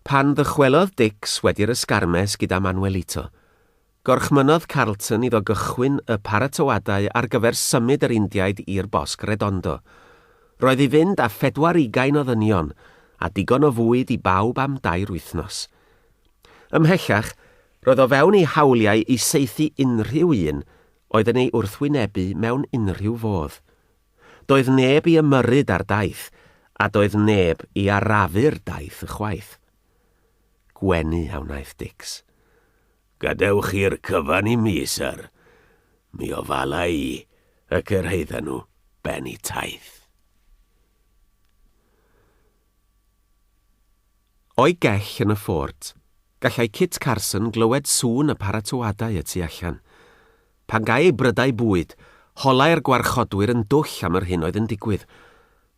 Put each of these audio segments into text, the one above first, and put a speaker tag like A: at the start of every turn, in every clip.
A: Pan ddychwelodd Dicks wedi'r ysgarmes gyda Manuelito, gorchmynnodd Carlton iddo gychwyn y paratoadau ar gyfer symud yr Indiaid i'r Bosg Redondo. Roedd i fynd â phedwar ugain o ddynion a digon o fwyd i bawb am dair wythnos. Ymhellach, roedd o fewn ei hawliau i saethu unrhyw un oedd yn ei wrthwynebu mewn unrhyw fodd. Doedd neb i ymyrryd ar daith, a doedd neb i arafu'r daith ychwaith. Gwenu a wnaeth Dix. Gadewch
B: i'r cyfan i mi, syr. Mi ofala i, y cyrhaedda nhw ben y taith.
A: O'i gell yn y ffort, gallai Kit Carson glywed sŵn y paratoadau y tu allan. Pan gai ei brydau bwyd, holai'r gwarchodwyr yn dwll am yr hyn oedd yn digwydd,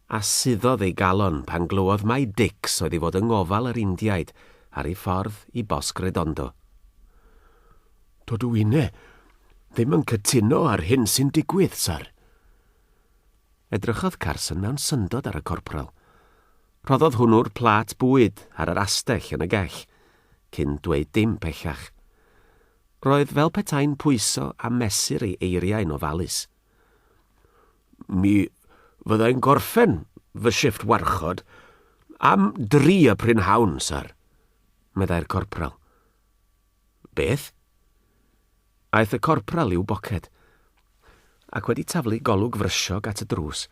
A: a suddodd ei galon pan glywodd mai Dicks oedd i fod yng ngofal yr Indiaid ar ei ffordd i Bosg Redondo.
B: Dydw inne ddim yn cytuno â'r hyn sy'n digwydd, syr. Edrychodd
A: Carson mewn syndod ar y corporal. Rhoddodd hwnnw'r plât bwyd ar yr astell yn y gell, cyn dweud dim pellach. Roedd fel petai'n pwyso a mesur ei eiriau'n ofalus.
B: Mi fyddai'n gorffen fy shifft warchod am dri y prynhawn, syr, meddai'r
A: corpral.
B: Beth?
A: Aeth y corpral i'w boced, ac wedi taflu golwg frysiog at y drws,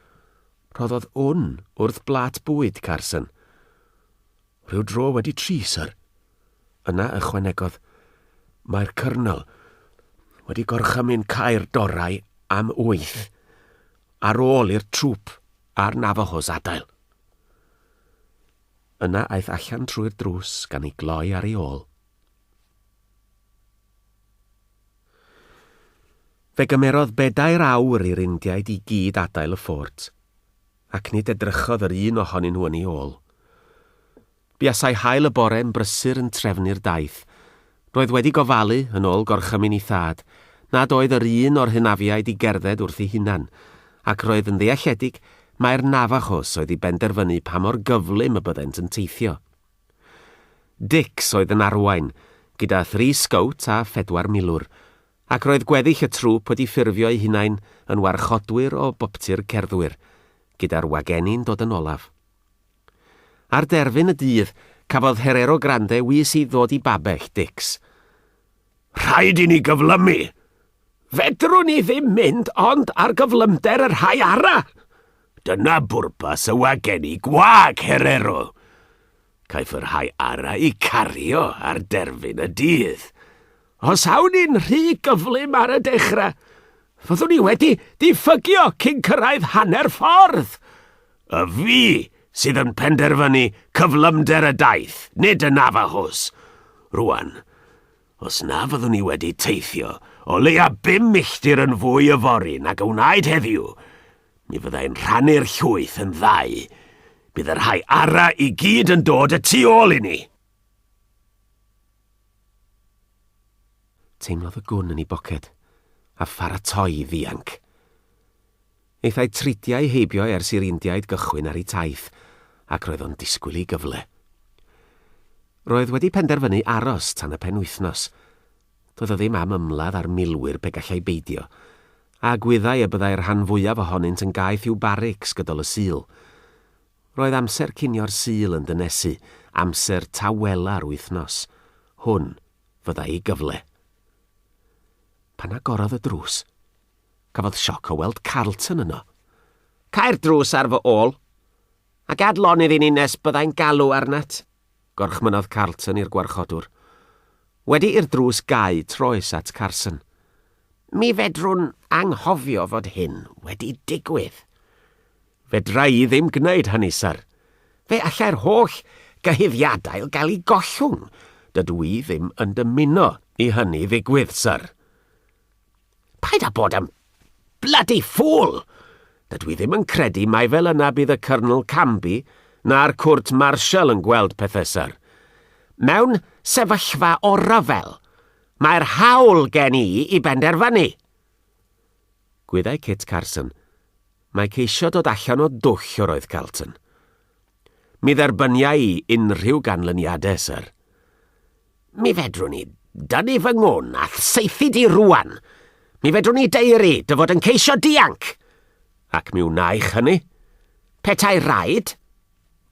A: rhoddodd wn wrth blât bwyd Carson.
B: Rhyw dro wedi tri, syr. Yna
A: ychwanegodd, Mae'r
B: Cyrnol wedi gorchymyn cau'r dorau am wyth ar ôl i'r trŵp a'r Navajos adael.
A: Yna aeth allan trwy'r drws gan ei gloi ar ei ôl. Fe gymerodd bedair awr i'r Indiaid i gyd adael y ffort, ac nid edrychodd yr un ohonyn nhw yn ei ôl. Buasai haul y bore yn brysur yn trefnu'r daith. Roedd wedi gofalu, yn ôl gorchymyn ei thad, nad oedd yr un o'r hynafiaid i gerdded wrth ei hunan, ac roedd yn ddealledig mai'r Navajos oedd i benderfynu pa mor gyflym y byddent yn teithio. Dix oedd yn arwain, gyda thri sgowt a phedwar milwr, Ac roedd gweddill y trwp wedi ffurfio eu hunain yn warchodwyr o boptu'r cerddwyr, gyda'r wagenni'n dod yn olaf. Ar derfyn y dydd, cafodd Herero Grande wis i ddod i babell Dicks.
B: Rhaid i ni gyflymu! Fedrwn ni ddim mynd ond ar gyflymder y rhai arall! Dyna bwrpas y wagenni gwag, Herero! Caiff y rhai arau i cario ar derfyn y dydd. Os awn i'n rhy gyflym ar y dechrau, fyddwn i wedi diffygio cyn cyrraedd hanner ffordd. Y fi sydd yn penderfynu cyflymder y daith, nid y Navajos. Rwan, Os na fyddwn ni wedi teithio o leia bum milltir yn fwy yfory nag a wnaed heddiw, mi fyddai'n rhannu'r llwyth yn ddau. Bydd y rhai ara i gyd yn dod y tu ôl i ni!
A: Teimlodd y gwn yn ei boced, a pharatoi i ddianc. Hithau tridiau heibio ers i'r Indiaid gychwyn ar eu taith, ac roedd o'n disgwyl i gyfle. Roedd wedi penderfynu aros tan y penwythnos. Doedd o ddim am ymladd â'r milwyr pe gallai beidio, a gwyddai y byddai'r rhan fwyaf ohonynt yn gaeth i'w barics gydol y Sul. Roedd amser cinio'r Sul yn dynesu, amser tawela'r wythnos. Hwn fyddai ei gyfle. Pan agorodd y drws, Cafodd sioc o weld Carlton yno. Cau'r drws
C: ar fy ôl! A gad lonydd i ni nes byddai'n galw arnat! gorchmynnodd
A: Carlton i'r gwarchodwr. Wedi i'r drws gau, troes at Carson. Mi
C: fedrwn anghofio fod hyn wedi digwydd.
A: Fedra i ddim gwneud hynny, syr. Fe allai'r
C: holl gyhuddiadau gael eu gollwng. Dydw i ddim
A: yn dymuno i hynny ddigwydd, syr.
C: Paid â bod yn bloody fool! Dydw i ddim
A: yn credu mai fel yna bydd y Cyrnl Canby na'r Cwrt Marshal yn gweld pethau, syr. Mewn
C: sefyllfa o ryfel, mae'r hawl gen i i benderfynu!
A: Gwyddai Kit Carson mai ceisio dod allan o dwll yr oedd Carlton. Mi
B: dderbyniai i unrhyw ganlyniadau, syr. Mi fedrwn i dynnu fy ngwn a'th saethu di rwan. Mi fedrwn i deiri dy fod yn ceisio dianc. Ac mi wnaech hynny. Petai rhaid,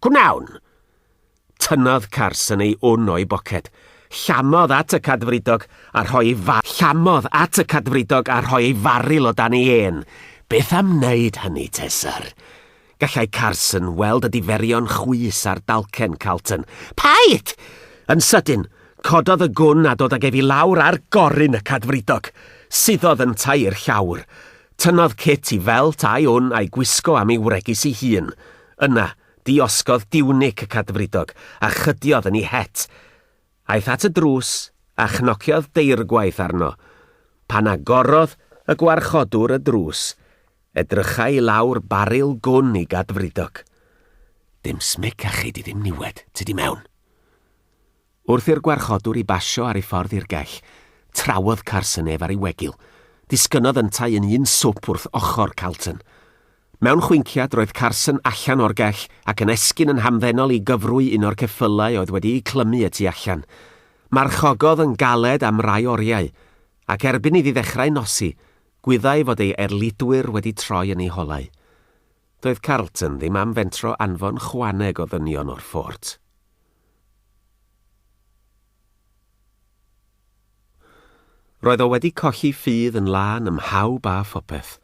B: gwnawn. Tynnodd Carson ei wn o'i boced, llamodd at y cadfridog a rhoi ei fa llamodd at y cadfridog a rhoi ei faril o dan ei ên. Beth am wneud hynny te, syr? Gallai Carson weld y diferion chwys ar dalcen Carlton. Paid! Yn sydyn, cododd y gwn a dod ag ef i lawr ar gorun y cadfridog. Suddodd yntau i'r llawr. Tynnodd Kit i felt a'i wn a'i gwisgo am ei wregys ei hun. Yna, diosgodd diwnic y cadfridog a chydiodd yn ei het. Aeth at y drws a chnociodd deirgwaith arno. Pan agorodd y gwarchodwr y drws, Edrycha i lawr baril gwn i Gadfridog. Dim smyc a chei di ddim niwed, tu di mewn. Wrth i'r gwarchodwr i basio ar ei ffordd i'r gell, trawodd Carson ef ar ei wegil. Disgynnodd yntau yn un swp wrth ochr Calton. Mewn chwinciad roedd Carson allan o'r gell ac yn esgyn yn hamddenol i gyfrwy un o'r ceffylau oedd wedi'u clymu y tu allan. Marchogodd yn galed am rai oriau, ac erbyn iddi ddechrau nosi, Gwyddai fod ei erlidwyr wedi troi yn eu holau. Doedd Carleton ddim am fentro anfon chwaneg o ddynion o'r ffort. Roedd o wedi colli ffydd yn lân ym mhawb a phopeth.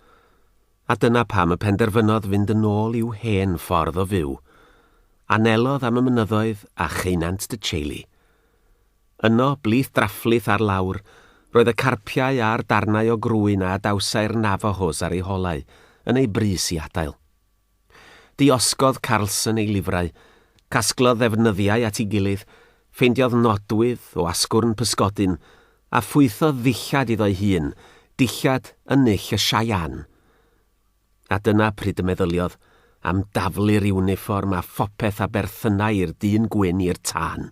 B: A dyna pam y penderfynodd fynd yn ôl i'w hen ffordd o fyw. Anelodd am y mynyddoedd a cheunant Dycheily. Yno, blith draflith ar lawr, roedd y carpiau a'r darnau o grwyn a adawsai'r Navajos ar eu holau, yn eu brys i adael. Diosgodd Carlson ei lifrau, casglodd ddefnyddiau at ei gilydd, ffeindiodd nodwydd o asgwrn pysgodyn, a phwythodd ddillad iddo'i hun, dillad yn null y Cheyenne. A dyna pryd y meddyliodd am daflu'r iwnifform a phopeth a berthynai i'r dyn gwyn i'r tân.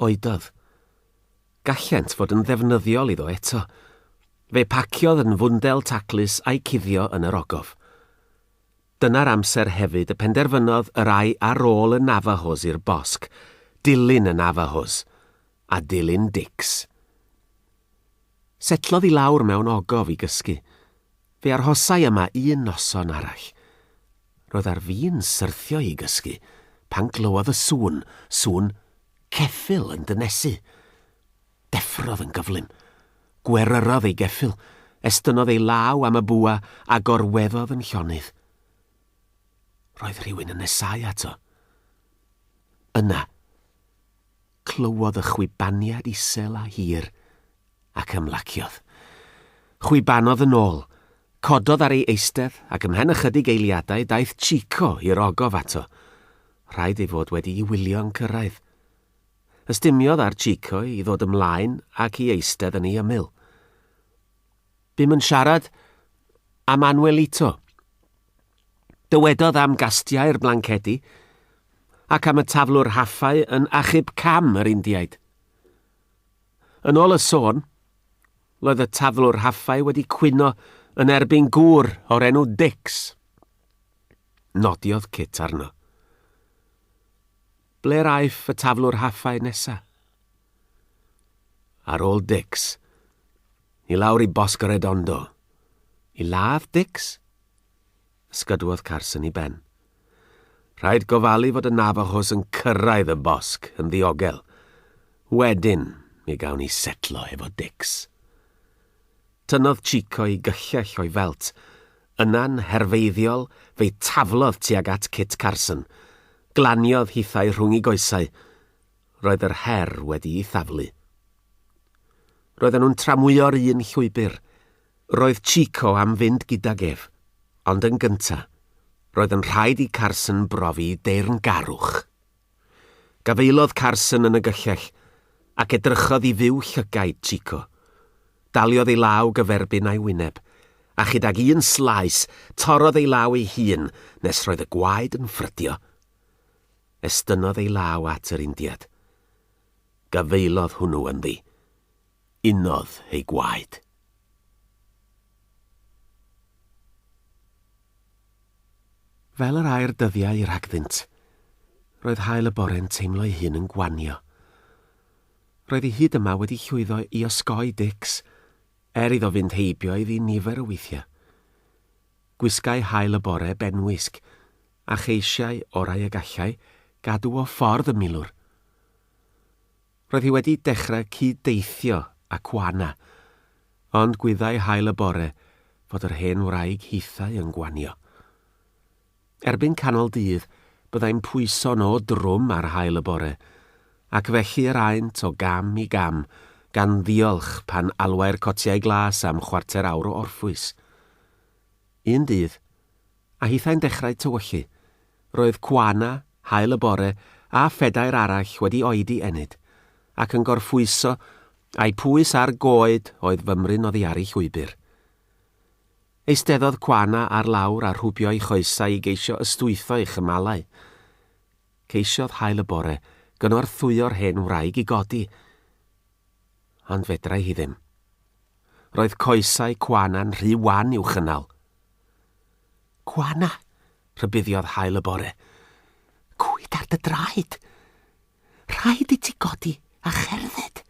B: Oedodd. Gallent fod yn ddefnyddiol iddo eto. Fe paciodd yn fwndel taclus a'i cuddio yn yr ogof. Dyna'r amser hefyd y penderfynodd yr ai ar ôl y Navajos i'r bosg, dilyn y Navajos, a dilyn Dicks. Setlodd i lawr mewn ogof i gysgu. Fe arhosai yma un noson arall. Roedd ar fin syrthio i gysgu pan glywodd y sŵn, sŵn ceffyl yn dynesu. Deffrodd yn gyflym. Gweryrodd ei geffyl, estynnodd ei law am y bwa a gorweddodd yn llonydd. Roedd rhywun yn nesáu ato. Yna, Clywodd y chwibaniad isel a hir, ac ymlaciodd. Chwibanodd yn ôl. Cododd ar ei eistedd, ac ymhen ychydig eiliadau daeth Chico i'r ogof ato. Rhaid ei fod wedi'i wylio'n cyrraedd. Ystumiodd ar Chico i ddod ymlaen ac i eistedd yn ei ymyl. Bum yn siarad am Anuelito. Dywedodd am gastiau'r blancedi ac am y taflwr haffau yn achub cam yr Indiaid. Yn ôl y sôn, roedd y taflwr haffau wedi cwyno yn erbyn gŵr o'r enw Dix. Nodiodd Kit arno. Ble'r aiff y taflwr haffau nesa? Ar ôl Dix, ni lawr i Bosco Redondo. I ladd Dix? Ysgydwodd Carson i ben. Rhaid gofalu fod y Navajos yn cyrraedd y bosg yn ddiogel. Wedyn, mi gawn ni setlo efo Dix. Tynnodd Chico i gyllell o'i felt. Yna'n herfeiddiol, fe'i taflodd tuag at Kit Carson. Glaniodd hithau rhwng i goesau. roedd yr her wedi'i thaflu. Roedden nhw'n tramwyo'r un llwybr. Roedd Chico am fynd gydag ef, ond yn gynta, roedd yn rhaid i Carson brofi deyrngarwch. Gafaelodd Carson yn y gyllell, ac edrychodd i fyw llygaid Chico. Daliodd ei law gyferbyn a'i wyneb, a chydag un slaes, torrodd ei law ei hun nes roedd y gwaed yn ffrydio. estynnodd ei law at yr Indiad. Gafaelodd hwnnw ynddi. Unodd ei gwaed. Fel yr air dyddiau rhagddynt,
A: roedd haul y bore'n teimlo ei hun yn gwanio. Roedd hi hyd yma wedi llwyddo i osgoi Dix, er iddo fynd heibio iddi nifer o weithiau. Gwisgai haul y bore benwisg, a cheisiai orau y gallai gadw o ffordd y milwr. Roedd hi wedi dechrau cyd-deithio â Kuana, ond gwyddai hael y bore fod yr hen wraig hithau yn gwanio. Erbyn canol dydd byddai'n pwyso nhw drwm ar hael y bore, ac felly yr aent o gam i gam, gan ddiolch pan alwai'r cotiau glas am chwarter awr o orffwys. Un dydd, a hithau'n dechrau tywyllu. Roedd Kwana, Haul y Bore a phedair arall wedi oedi ennyd, ac yn gorffwyso, a'u pwys ar goed oedd fymryn oddi ar ei llwybr. Eisteddodd Kwana ar lawr a rhwbio'i choesau i geisio ystwytho'i chymalau. Ceisiodd Haul y Bore gynorthwyo'r hen wraig i godi, ond fedrai hi ddim. Roedd coesau Kwana'n rhy wan i'w chynnal. Gwana! rhybuddiodd haul y bore. Cwyd ar dy draed! Rhaid i ti godi a cherdded!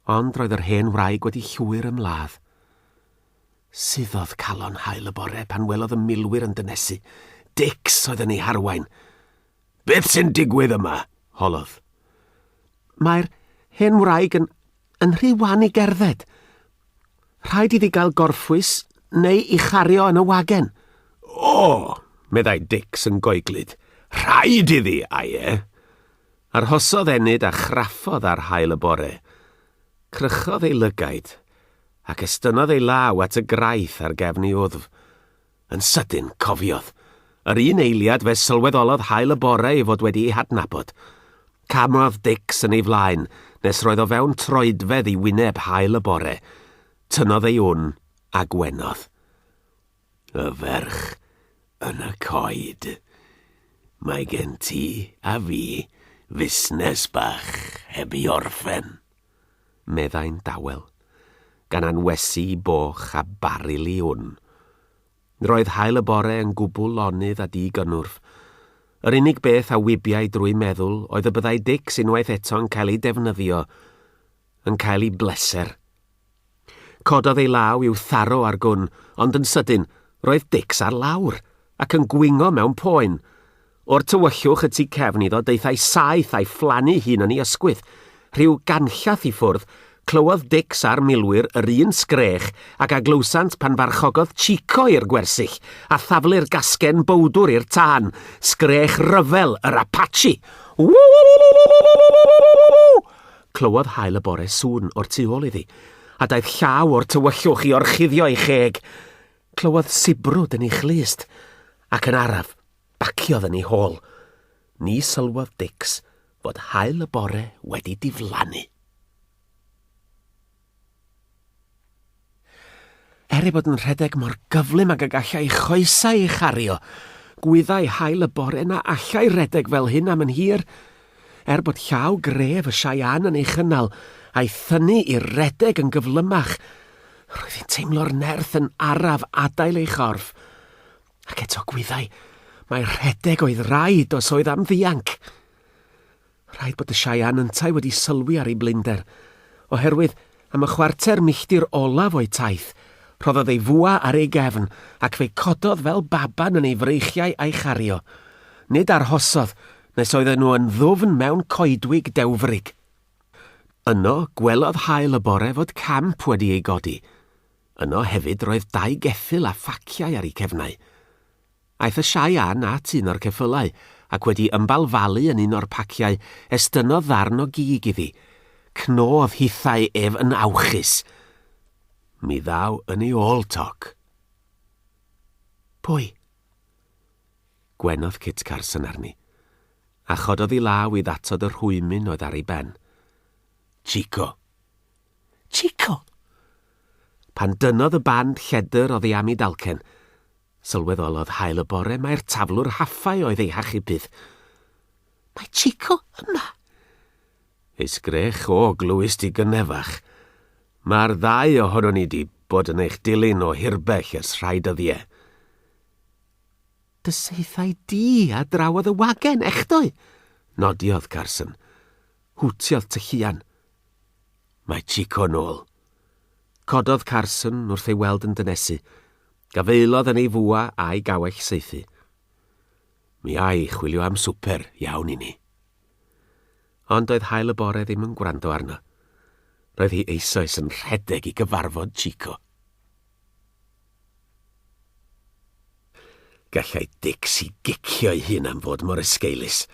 A: Ond roedd yr hen wraig wedi llwyr ym ladd. Suddodd calon haul y bore pan welodd y milwyr yn dynesu. Dix oedd yn ei harwain! Beth
B: sy'n digwydd yma? holodd.
A: Mae'r hen wraig yn, yn rhy wan i gerdded. Rhaid iddi gael gorffwys neu i chario yn y wagen. O,
B: meddai Dix yn goeglyd. Rhaid iddi, ai e? Arhosodd
A: Enid a chraffodd ar hael y bore. Crychodd ei lygaid ac estynnodd ei law at y graith ar gefn ei wddf. Yn sydyn, cofiodd. Yr un eiliad fe sylweddolodd haul y bore ei fod wedi ei hadnabod. Camodd Dicks yn ei flaen, nes roedd o fewn troedfedd i wyneb haul y bore. Tynnodd ei wn, a gwenodd.
B: Y ferch yn y coed. Mae gen ti a fi fusnes bach heb i orffen. meddai'n
A: dawel, gan anwesu boch a baril i wn. Roedd haul y bore yn gwbl lonydd a di-gynnwrf. Yr unig beth a wybiai drwy meddwl oedd y byddai Dicks unwaith eto'n cael ei defnyddio, yn cael ei bleser. Cododd ei law i'w tharo ar gwn, ond yn sydyn, roedd Dicks ar lawr, ac yn gwingo mewn poen. O'r tywyllwch y tu cefn iddo daethai saeth a'i phlannu hun yn ei ysgwydd. Rhyw ganllath i ffwrdd, clywodd Dicks a'r milwyr yr un sgrech ag a glywsant pan farchogodd Chico i'r gwersyll a thaflu'r gasgen bowdwr i'r tân, sgrech ryfel yr Apache! Ww! Clywodd haul y bore sŵn o'r tu ôl iddi, a daeth llaw o'r tywyllwch i orchuddio ei cheg. Clywodd sibrwd yn ei chlust, ac yn araf, baciodd yn ei hôl. Ni sylwodd Dicks fod haul y bore wedi diflannu. Er ei bod yn rhedeg mor gyflym ag y gallai ei choesau ei chario, gwyddai haul y bore na allai redeg fel hyn am yn hir. Er bod llaw gref y Cheyenne yn ei chynnal a'i thynnu i redeg yn gyflymach, roedd hi'n teimlo'r nerth yn araf adael ei chorff. Ac eto gwyddai mai rhedeg oedd raid os oedd am ddianc. Rhaid bod y Cheyenne yntau wedi sylwi ar ei blinder, oherwydd, am y chwarter milltir olaf o'i taith, rhoddodd ei fwa ar ei gefn ac fe cododd fel baban yn ei freichiau a'i chario. Nid arhosodd nes oedden nhw yn ddwfn mewn coedwig dewfrig. Yno, gwelodd haul y bore fod camp wedi ei godi. Yno hefyd roedd dau geffyl a phaciau ar eu cefnau. Aeth y Siae Ann at un o'r ceffylau, ac wedi ymbalfalu yn un o'r paciau, estynnodd ddarn o gig iddi. Cnodd hithau ef yn awchus. Mi ddaw yn ei ôl toc. Pwy? Gwenodd Kit Carson arni, a chododd ei law i ddatod y rhwymyn oedd ar ei ben. Chico. Chico! Pan dynodd y band lledr oddi am ei dalcen, Sylweddolodd hael y bore mai'r taflwr haffau oedd ei hachubyd. Mae Chico yma! Ei sgrech o glwys di gynnefach. Mae'r ddau ohono ni di bod yn eich dilyn o hirbell ers rhai dyddiau. Dy
C: saethau di a drawodd y wagen, echdoe! Nodiodd
A: Carson. Hwtiodd tylluan. Mae Chico nôl. Cododd Carson wrth ei weld yn dynesu. Gafaelodd yn ei fwa a'i gawell saethu. Mi a'i chwilio am swper iawn i ni. Ond doedd hael y bore ddim yn gwrando arno. Roedd hi eisoes yn rhedeg i gyfarfod Chico. Gallai Dixie gicio'i hun am fod mor esgeulus.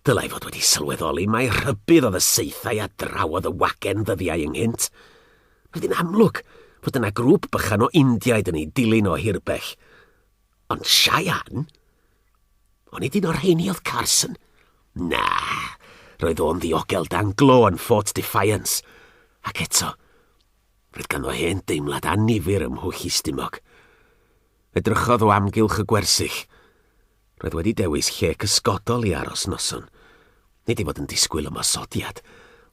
A: Dylai fod wedi sylweddoli mai rhybudd oedd y saethau a drawodd y wagen ddyddiau ynghynt. Bydd yn amlwg fod yna grŵp bychan o Indiaid yn ei dilyn o hirbell. Ond Cheyenne? Ond nid un o'r rheini oedd Carson. Na, roedd o'n ddiogel dan glo yn Fort Defiance. Ac eto, roedd ganddo hen deimlad anifyr ym Mhwll Istumog. Edrychodd o amgylch y gwersyll. Roedd wedi dewis lle cysgodol i aros noson. Nid ei fod yn disgwyl ymosodiad,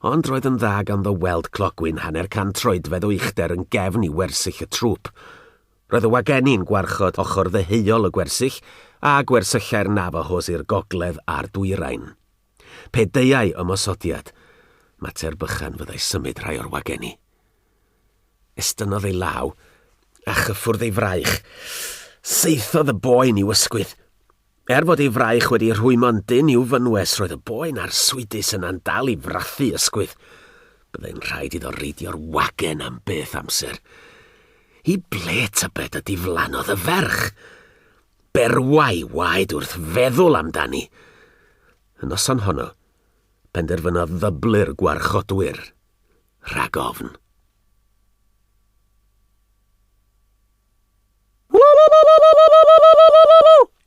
A: ond roedd yn dda ganddo weld clogwyn hanner can troedfedd o uchder yn gefn i wersyll y trwp. Roedd y wagenni'n gwarchod ochr ddeheuol y gwersyll a gwersyllau'r Navajos i'r gogledd a'r dwyrain. Pe deuai ymosodiad, mater bychan fyddai symud rhai o'r wagenni. Estynnodd ei law, a chyffwrdd ei fraich. Saethodd y boen i'w ysgwydd. Er bod ei fraich wedi rhwymo'n dynn i'w fynwes, roedd y boen arswydus yna'n dal i frathu ysgwydd. Byddai'n rhaid iddo reidio'r wagen am beth amser. I ble tybed y diflannodd y ferch? Berwai waed wrth feddwl amdani. Y noson honno, penderfynodd ddyblu'r gwarchodwyr. rhag ofn.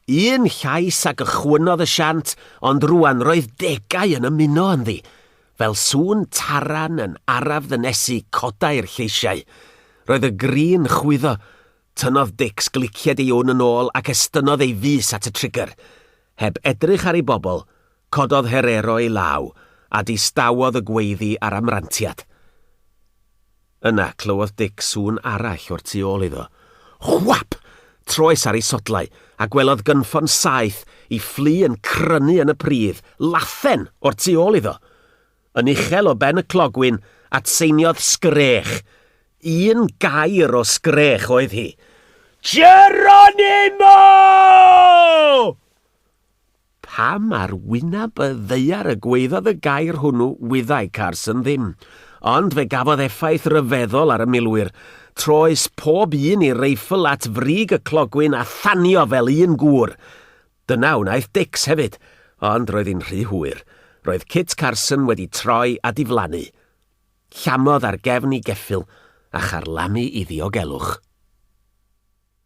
A: Un llais a gychwynnodd y siant, ond rwan roedd degau yn ymuno ynddi. Fel sŵn taran yn araf ddynesu codai'r lleisiau. Roedd y grin chwyddo. Tynnodd Dix glicied ei wn yn ôl ac estynnodd ei fus at y trigger. Heb edrych ar ei bobl, Cododd Herero ei law a distawodd y gweiddi ar amrantiad. Yna clywodd Dic sŵn arall o'r tu ôl iddo. Whap! Troes ar ei sodlau, a gwelodd gynffon saeth i fflu yn crynu yn y pridd, lathen, o'r tu ôl iddo! Yn uchel o ben y clogwyn, atseiniodd sgrech. Un gair o sgrech oedd hi. Geronimo! Pam ar wyneb y ddaear y gwaeddodd y gair hwnnw wyddai Carson ddim, ond fe gafodd effaith ryfeddol ar y milwyr. Troes pob un ei reifl at frig y clogwyn a thanio fel un gŵr. Dyna wnaeth Dix hefyd, ond roedd hi'n rhy hwyr. Roedd Kit Carson wedi troi a diflannu. Llamodd ar gefn i geffyl a charlamu i ddiogelwch.